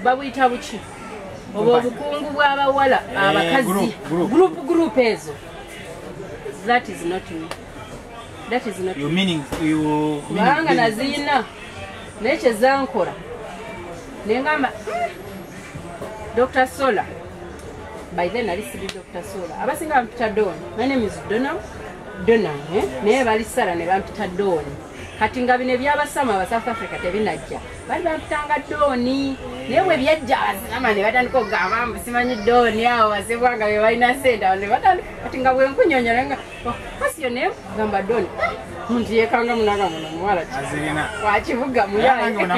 babuyita buki oba obukungu bw'abawala eh, abakazi group group ezo that is not me that is not your meaning you kubanga naziyina naye kyezankora nengamba hmm, dr sola by then ali siri dr sola abasinga bampita don my name is dona dona eh? naye bali sara ne bampita don kati nga bino ebyabasama aba south africa tebinajja bali bamutanga dooni naye bwe byajja abasilama ne batandika okugamba mbu simanyi dooni awo basebwa nga bebalina sente awo nebatandika kati nga bwenkunyonyola nga oh, kasi yo naye gamba dooni ah, muntu yekanga munaga muno muwala wakibuga muyalinnya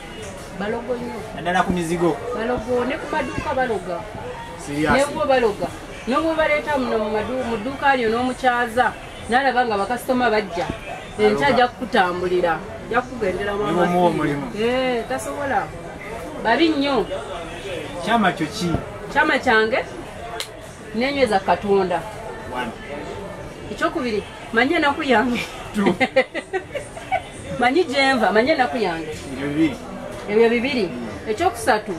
balogo nyo naddala ku mizigo balogo ne ku maduuka baloga nebubo baloga nobwobaleeta muno mu dduuka lyo n'omukyaza nalaba nga bakasitoma bajja enkya ajja kukutambulira jakugendera muomulimu eh, tasobola babi nnyo kyama kyo ki kyama kyange nenyweza katonda ekyokubiri manyi enaku yange manyi gyenva manyi enaku yange ebyo bibiri ekyokusatu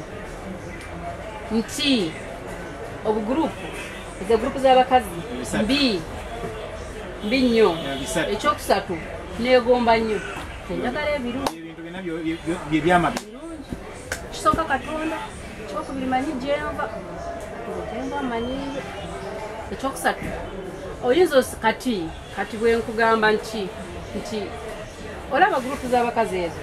nti obugurupu ezo gurupu z'abakazi mbi mbi nnyo ekyokusatu negomba nnyo enjagala ebirungi kisooka katonda ekyokubiri manyi gyenva gyenva manyi ekyokusatu oyinza kati kati bwenkugamba nti nti olaba gurupu z'abakazi ezo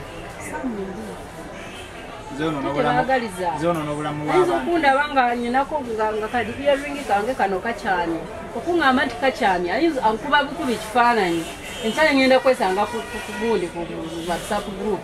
ayinza okundaba nga nyinako nga kadi earingi kange kano kakyami okuŋamba nti kakyami ayinza ankuba bukuba ekifaananyi enkyaye ngenda kwesanga kugundi ku whatsapp group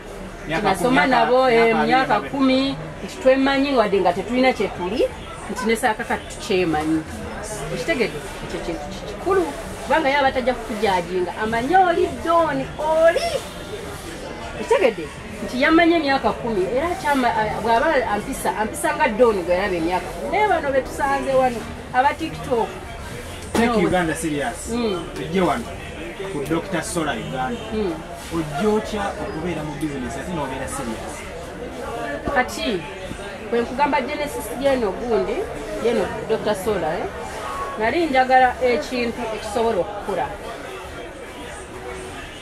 nasoma nabo eh, myaka kumi nti twemanyi wadde nga tetulina kyetuli nti nesaaka kati tukyemanyi ekitegede ekyo kintu kikulu kubanga ye abatajja kukujajinga amanye oli doni oli ekitegede nti yamanya emyaka kumi era bwaba ampisa ampisa nga doni gwe yalaba emyaka naye bano betusanze wano aba tiktok Take Uganda serious. Mm. ku dr sola uganda hmm. ojja otya okubeera mu bizinesi ate nobeera serious kati kwenkugamba genesis yeno gundi yeno dr sola eh? nali njagala ekintu ekisobola okukula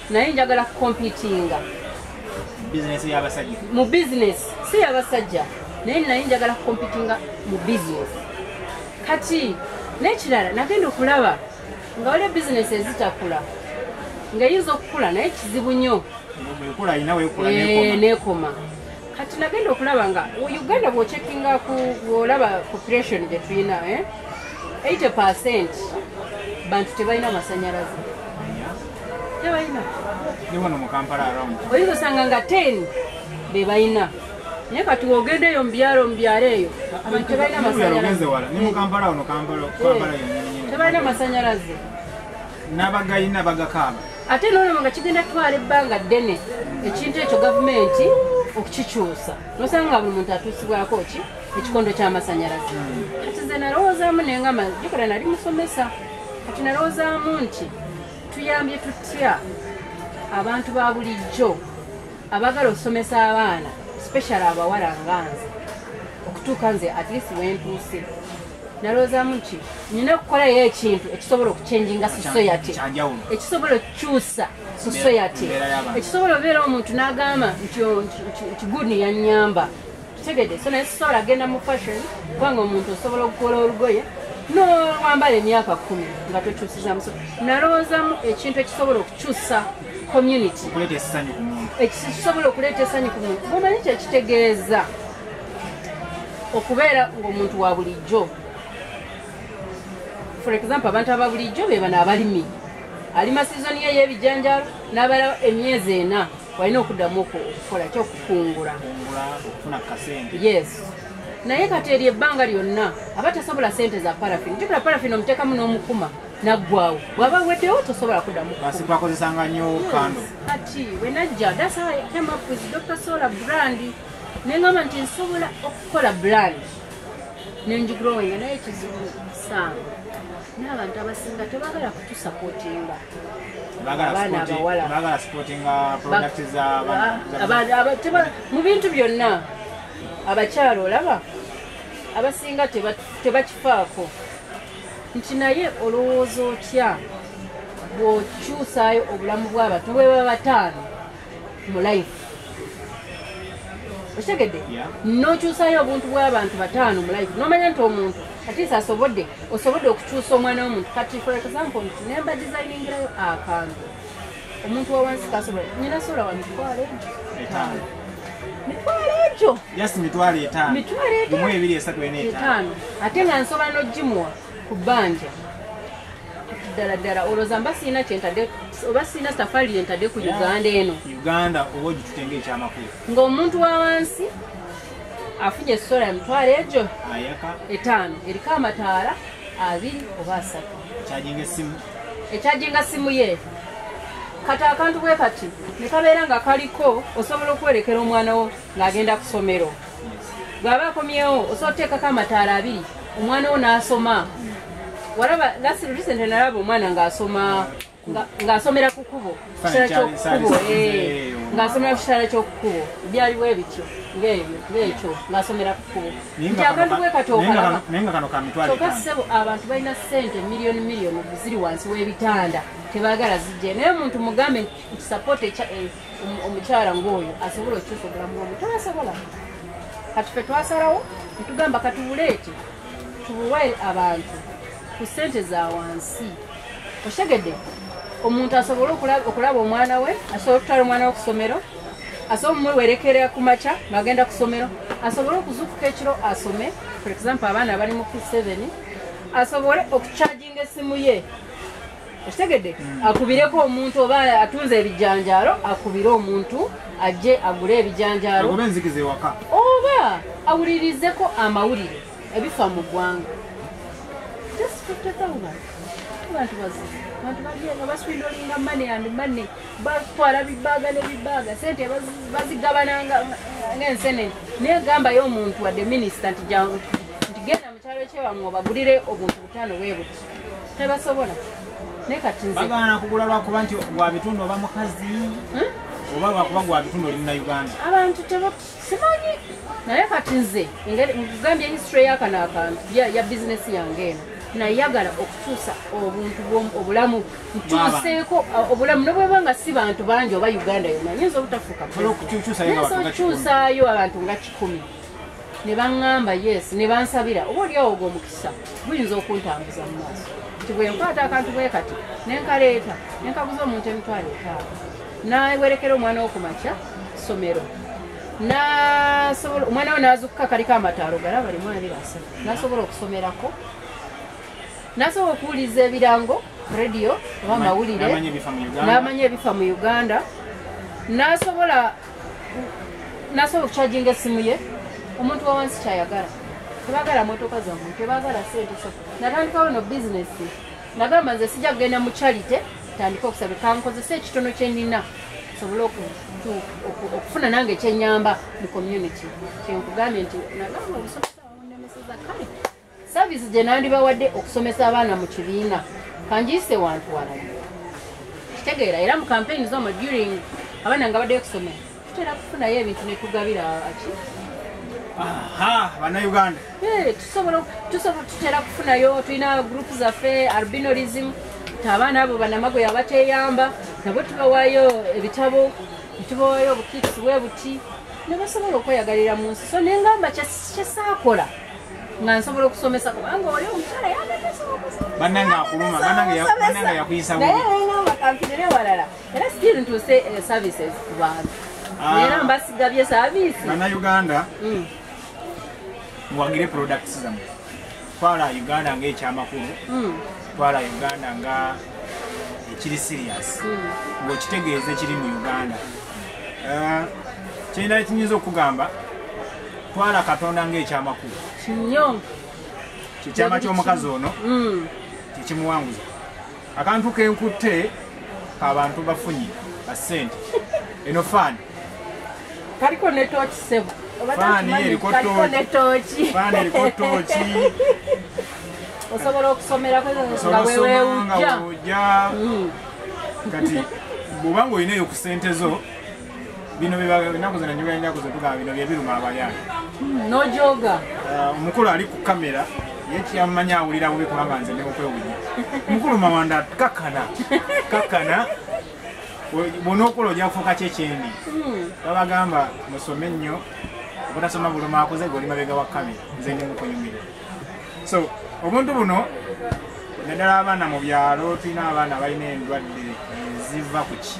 naye njagala kukompitinga mu bizinesi si yabasajja naye naye njagala kukompitinga mu bizinesi kati nekirala nagenda okulaba nga waliwo bizinesi ezitakula nga eyinza okukula naye kizibu nnyo nekoma kati nagenda okulaba nga uganda bwocekinga olaba population gyetulina 80 eh? percent bantu tebalina amasanyalaze tebalina oyinza osanga nga 10 bebalina naye kati wogenda eyo mubyalo mubyalo eyo abantu tebalina masanyalazetebalina masanyalaze nabagalina bagakaaba ate nolaba nga kigenda kutwala ebbanga ddene ekintu ekyo gavumenti okukikyusa nosanga nga buli muntu atuusibwako ki ekikondo kyamasanyalaze kati ze nalowoozaamu nengama jukira nali musomesa kati nalowoozaamu nti tuyambye tutya abantu ba bulijjo abagala okusomesa abaana special abawala nga nze okutuuka nze at least wentuuse nalowoozamu nti nina okukolayo ekintu ekisobola okuchenjinga society ekisobola okukyusa society ekisobola obeera omuntu n'agamba nti oh, guni yanyamba kitegede so naye sisobola genda mu fashion kubanga omuntu osobola okukola olugoye nowambala emyaka kumi nga tokyusizamu so nalowoozamu ekintu ekisobola okukyusa community ekisobola okuleeta esanyu ku muntu mumanyi kyekitegeeza okubeera ngaomuntu wa bulijjo for example abantu aba bulijjo bebano abalimi alima sizoni ye yebijanjalo nabala emyezi ena walina okuddamu okukola ki okukungula okufuna kasente yes naye kati eri ebbanga lyonna aba tasobola sente za parafin jukira parafin omuteekamu n'omukuma naggwawo bwaba weddewo tosobola kuddamubakozesanga nyo kando kati wenajja dasa came up with dr solar brand nengamba nti nsobola okukola brand nenjigrowinga naye kizibu sanga n'abantu abasinga tebagala kutusapotinga mu bintu byonna abakyalo olaba abasinga tebakifaako nti naye olowooza otya bw'okyusaayo obulamu bw'abantu bweba bataano mu life okitegedde nokyusayo obuntu bwabantu bataano mu life nomanya nti omuntu atisa asobodde osobodde okukyusa omwana womuntu kati for example nti nemba designingirayo akantu omuntu wawansi kasobola nyina sola wa mitwalo etaano mitwalo egyo mitwalo etaano ate nga nsobola nogimuwa ku bbanja ddala ddala olowooza mba sirina kyentadde oba sirina safari yentadde ku uganda eno uganda oba ogitute ngaekyamakulu ng'omuntu wa wansi afunye esola emitwalo egyo etaano eriko amataala abiri oba asatu ekyajinga simu ye kati akantu bwe kati ne kabeera nga kaliko osobola okwerekera omwana wo ng'agenda ku ssomero bw'aba akomyewo osobola oteekako amataala abiri omwana wo n'asoma walaba last recent nalaba omwana ng'asoma ng'asomera ku kubo kitala kyokukubo eh. ng'asomera ku kitala kyokukubo byaliwo ebityo ng'ebyo ng'ekyo ng'asomera ku kubo nti abantu bwekatookalabakyoka ssebo abantu balina ssente miliyoni miliyoni ziri wansi w'ebitanda tebaagala zijje naye omuntu mugambe support echa eh, omukyala ngoyo asobola okyusa obulamu bwomu tasobola kati fe twasalawo ntugamba katubuleete tubuwe abantu ku sente za wansi oshegede omuntu asobole okulaba omwana we asobole okutwala omwana we kusomero asobole omwewerekera ku makya ngagenda kusomero asobole okuzukuka ekiro asome for example abaana bali mu p7 asobole okucharginga esimu ye okitegedde akubireko omuntu oba atunze ebijanjaalo akubire omuntu ajje agule ebijanjaalo oba enzikiza ewaka oba awulirizeko amawulire ebifa mu ggwanga just 50000 abantu bazibu abantu bagenda baswindolinga mane and mane batwala bibaaga ne bibaaga sente bazigabana ngaensenene naye gambayo omuntu wadde minisita nti genda mu kyalo kyewamwe obagulire obuntu tebasobola naye kati nze bagaana kugula lwakuba nti gwa bitundu oba mukazi hmm? oba lwakuba gwa bitundu oli munauganda abantu simanyi naye kati nze ngambye history yakano akantu ya bizinesi yange eno nayagala okukyusa obuntu obulamu nkyuseeko obulamu nobweba nga si bantu bangi oba uganda yona nyinza obutafuuka okukyusaayo abantu nga kikumi ne baŋŋamba yes ne bansabira oba olyawo ogwo omukisa guyinza okuntambuza mu maaso nti bwe nkwata akantu bwe kati ne nkaleeta ne nkaguza omuntu emitwalo etaano nawerekera omwana wo ku makya ssomero nasobola omwana we nazukuka kaliko amataalo galaba limu abiri asatu nasobola okusomerako nasobola okuwuliza ebirango radio oba amawulire namanya ebifa mu uganda nasobola nasobola okukyajinga essimu ye omuntu wawansi kyayagala tebagala motoka zamu tebagala sente so natandikawo no bizinesi nagamba nze sijja kugenda mu charite tandika okusabe kankozesa ekitono kyenina sobole okufuna nange ekyenyamba mu community kyenkugambye nti nagamba obusobozi awonemeseza kale Service gye nandibawadde okusomesa abaana mu kibiina kanjiyise wantu walala kitegeera era mu kampeyini zomo during abaana nga baddeyo kusomera tutera kufunayo ebintu ne tugabira aki banauganda tutera kufunayo tulina group zaffe albinorism abaana abo banamago yabateyamba nabo tubawayo ebitabo netubawayo obukitisi bwe buti nebasobola okweyagalira mu nsi so nengamba kyesaakola nga nsobola okusomesa kubanga oli omukyala yabanange akuluma banange yakuyisa nayenaamakamfirire walala era still ntuuse eh, services ku bantu ah. era mbasigabye service banauganda hmm. muwagire products zamwe twala uganda ngaekyamakulu hmm. twala uganda nga ekiri serious hmm. ngaokitegeeza ekiri mu uganda eh, kyendala kinyinza okugamba twala katonda ng'ekyamakulu kinyo kyekyama ky'omukazi ono mm. kyekimuwanguza akantu kenkutte kabantu bafunyi basente eno faani kaliko netoki sebo faani eriko tooki osobola okusomerako nga wewewujja mm. kati bwobanga olinaeyo ku sente zo bino byenaku zina njoga enyaku zetugaba bino byebiruma abayani hmm, nojoga uh, omukulu ali ku kamera yekiyamumanyi awulira bubi kubanga nze neokwewunya omukulu mawanda kakana kakana bona okola ojakufuuka kyekyendi hmm. babagamba musome nnyo obutasoma buluma akuze goli mabega wa kamera nze ndi mukunyumire so obuntu buno naddala abaana mu byalo tulina abaana balina endwadde eziva ku ki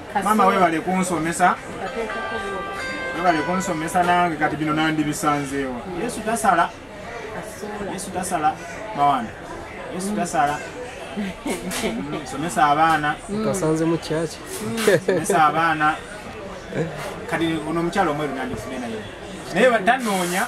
maama webale kunsomesa webale kunsomesa nange kati bino nandibisanzeewa yesu tasala yesu tasala mawanda yesu mm. tasala mm, somesa abaana mm. kasanze mu kyaki somesa abaana kati ono omukyalo omweru nandifune naye naye tanoonya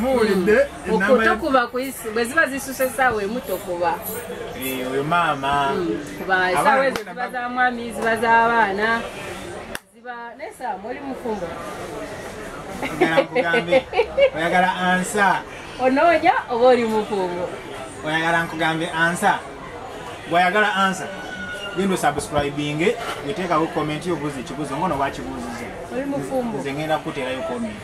muwulidde okutokuba kuisi bwe ziba zisusa esaawa emu tokuba eh, oyo maama hmm, kuba esaawa ezo ziba za mwami ziba za baana ziba nesaawa muli mufumbo oyagala ansa onoonya oba oli mufumbo oyagala nkugambe ansa bwayagala ansa genda osubscribinge weteekawo komenti yobuuza ekibuuzo ngono wakibuuziza nze ngenda kukuterayo komenti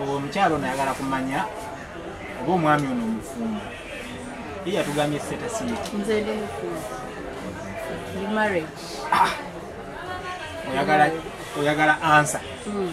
omukyalo ono ayagala kumanya oba omwami ono omufumbo ye yatugambye setasiikiayagala ah! ansa hmm.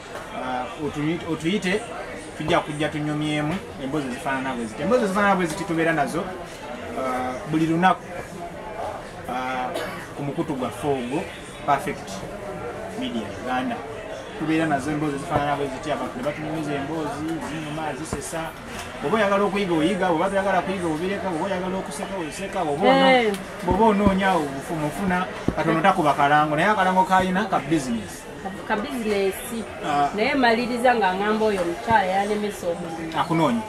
uh, otuyite tujja kujja tunyumyemu embozi ezifaanana bwe ziti embozi ezifaanana bwe ziti tubeera nazo uh, buli lunaku uh, ku mukutu gwaffe ogwo perfect media uganda tubeera nazo emboozi ezifaanana bwe ziti abantu ne batunyumiza emboozi zinyuma zisesa oba oyagala okuyiga oyiga oba toyagala kuyiga obireka oba oyagala okuseka oseka oba eh. onoonya obufumu ofuna katono takuba kalango naye akalango kalina ka bizinesi ka bizinesi ah. naye maliriza nga ngamba oyo omukyala yalemesa omulimu akunoonya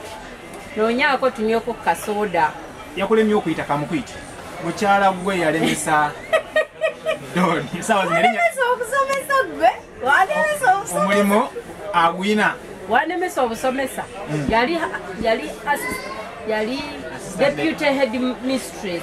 noonyaako tunyweko kasooda yakulemye okuyita kamukuyita mukyala gwe yalemesa okusomesa gwe walemesa omulimu agwina walemesa obusomesa hmm. yali yali yali deputy head mistress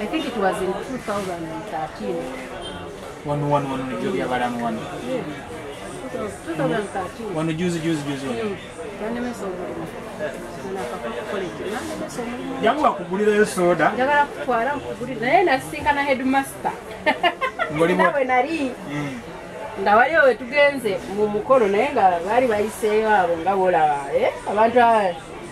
I think it was in 2013. Wano wano wano nibyo byabalamu wano. Yeah. 2013. Wano juzi juzi juzi wano. Mm. Yanemesa omulimu. Yangu wakugulirayo soda. Njagala kutwala nkugulire naye nasisinkana headmaster. Ngolimu. Nawe nali. Mm. nga wali owe tugenze mu mukolo naye nga baali bayiseeyo abo nga bolaba eh? abantu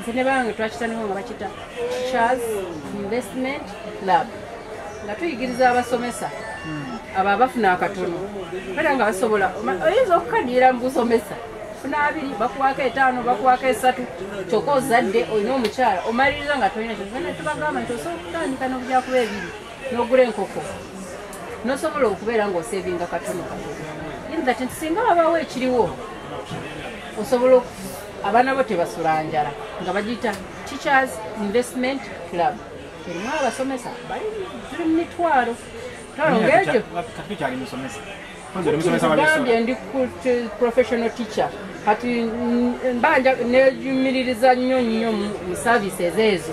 nze ne bange twakitandika nga bakita charles investment club nga tuyigiriza abasomesa hmm. abo abafuna akatono kale nga basobola oyinza okukadira mubusomesa funa abiri bakuwako etaano bakuwako esatu kyokka ozadde olina omukyala omaliriza nga tolina kyona tubagamba nti osobola okutandika nobujakuba ebiri nogula enkoko nosobola okubeera ngaosevinga katono katono inti singa wabawo ekiriwo osobola abaana bo tebasula njala nga bagiyita teachers investment club erimu abasomesa bali tuli mu mitwalo twalongeekyo gambye ndi professional teacher kati mbanja nejumiririza nnyo nnyo mu services ezo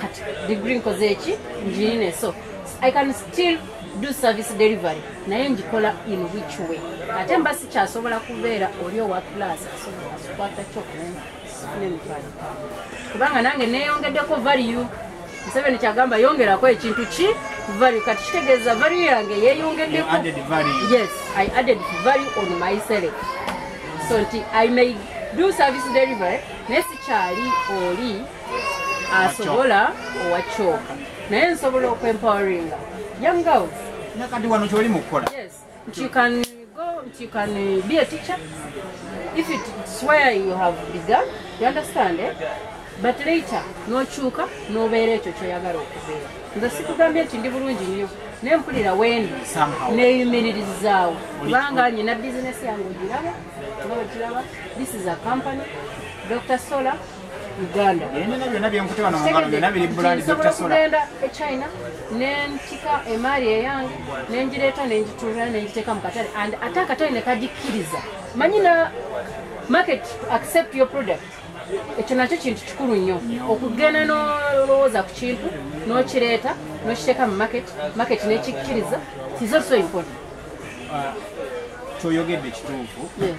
kati degree nkoze eki njirine so i can still do service delivery naye njikola in which way ate mba sikyasobola kubeera oli owa class asobola kukwata kyokunemitwalo kubanga nange neyongeddeko value museveni kyagamba yongerako ekintu ki value kati kitegeeza value yange yeyongeddeko yes i added value on my self so nti i may do service delivery naye sikyali oli asobola owa kyoka naye nsobola okwempoweringa young girls nakati wano kyoli mukukola yes nti you can go nti you can be a teacher if it swear you have begun you understand eh? but later nokyuka nobeera ekyo kyoyagala okubeera nze sikugambye nti ndi bulungi nnyo naye mpulira wendi neyumiririzaawo kubanga nyina bizinesi yange ogiraba nga wekiraba this is a company dr solar Uganda. Yenina byona byenkute wano mungalo byona biri bulandi Dr. Sula. Nsobola e China nentika emali eyange nenjireta nenjitura nenjiteka mukatale and ate akatale nekajikiriza. Manyi na market accept your product. Ekyo nakyo kintu kikulu nnyo okugenda n'olowooza ku kintu n'okireeta n'okiteeka mu market market n'ekikkiriza is also important. Uh, kyoyogedde kituufu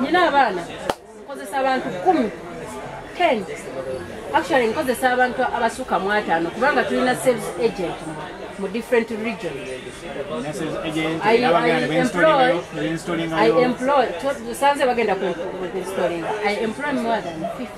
nina abaana nkozesa abantu kumi ten actually nkozesa abantu abasuka mu ataano kubanga tulina sales agent mu different regions sanze bagenda kuinstolinga i employ more than 50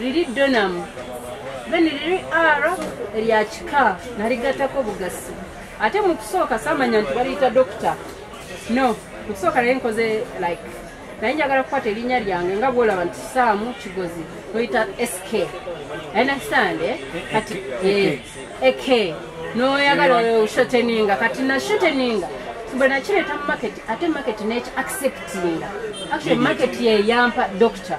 liri donamu then liri r erya kika naligatako bugasi ate mu kusooka samanya nti baliyita dokita no mu kusooka naye nkoze like naye njagala kukwata erinnya lyange nga bwolaba nti saamu kigozi noyita sk enasande eh? kati eh, ek noyagala oshoteninga kati nashoteninga bwe nakireeta mu maketi ate maketi neki acceptinga actually maketi yeyampa dokita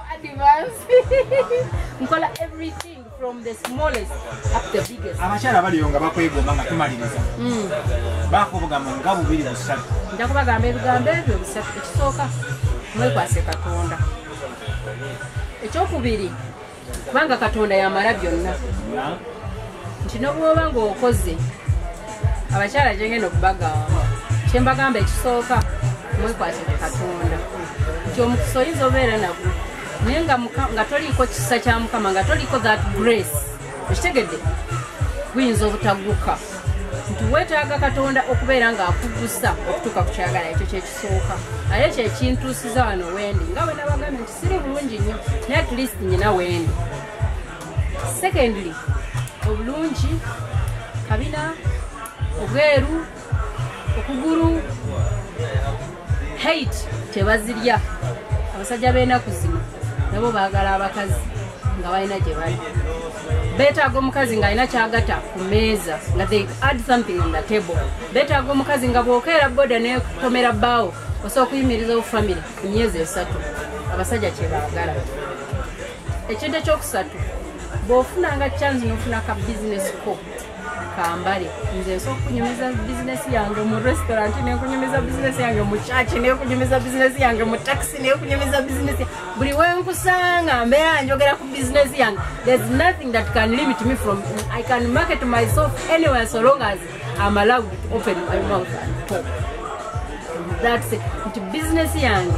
abakyala abaliyo nga bakwegomba nga tumaliriza hmm. bakubugamba nga bubiri busatu nja kubagamba ebigambo ebyo bisatu ekisooka mwekwase katonda ekyokubiri kubanga katonda yamala byonna nti nobwoba ngaokoze abakyala gyengenda okubagamba kyembagamba ekisooka mwekwatire katonda nti omukisa oyinza obeera nagwo naye nga toliiko kisa kya mukama nga toliiko that grace ekitegedde guyinza obutaguka nti wetaaga katonda okubeera ng'akugusa okutuuka ku kyagala ekyo kyekisooka naye kyekintuusiza wano wendi nga wenabagambye nti siri bulungi nnyo naye at least nyina wendi secondly obulungi kabina obweru okugulu hate tebazirya abasajja b'enaku zino nabo baagala abakazi nga balina gye bali betaaga omukazi ng'alina kyagata ku meeza nga they add something on the table betaaga omukazi nga bwokeera boda nekomera bbaawo osobola okuyimiriza obufamire emyezi esatu abasajja kyebaagala ekintu ekyokusatu bwofuna nga chance nofuna ka business ko kambale nze nsobola okunyumiza bizinesi yange mu restaurant nekunyumiza bizinesi yange mu church nekunyumiza bizinesi yange mu taxi nekunyumiza bizinesi buli wenkusanga mbeera njogera ku bizinesi yange there's nothing that can limit me from i can market myself anywhere so long as i'm allowed to open my mouth and talk that's it nti bizinesi yange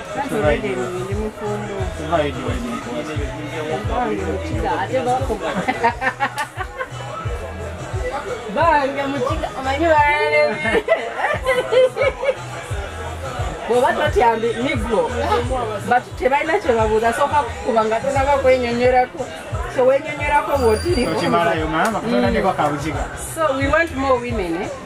bange mukiga omanyi balebe bwoba totyambi nigwo but tebalina kyebabuuza sooka kukuba nga tonaba kwenyonyerako so wenyonyerako bwotiriko so we want more women eh?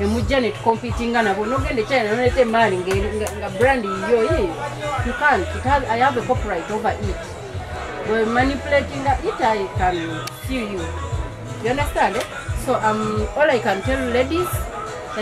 emujja ne tukompitinga nabo nogenda ekyali nanoleeta emaali nga brand yiyo yi you can it have, i have a copyright over it we manipulating it i can sue you you understand eh? so um, all i can tell ladies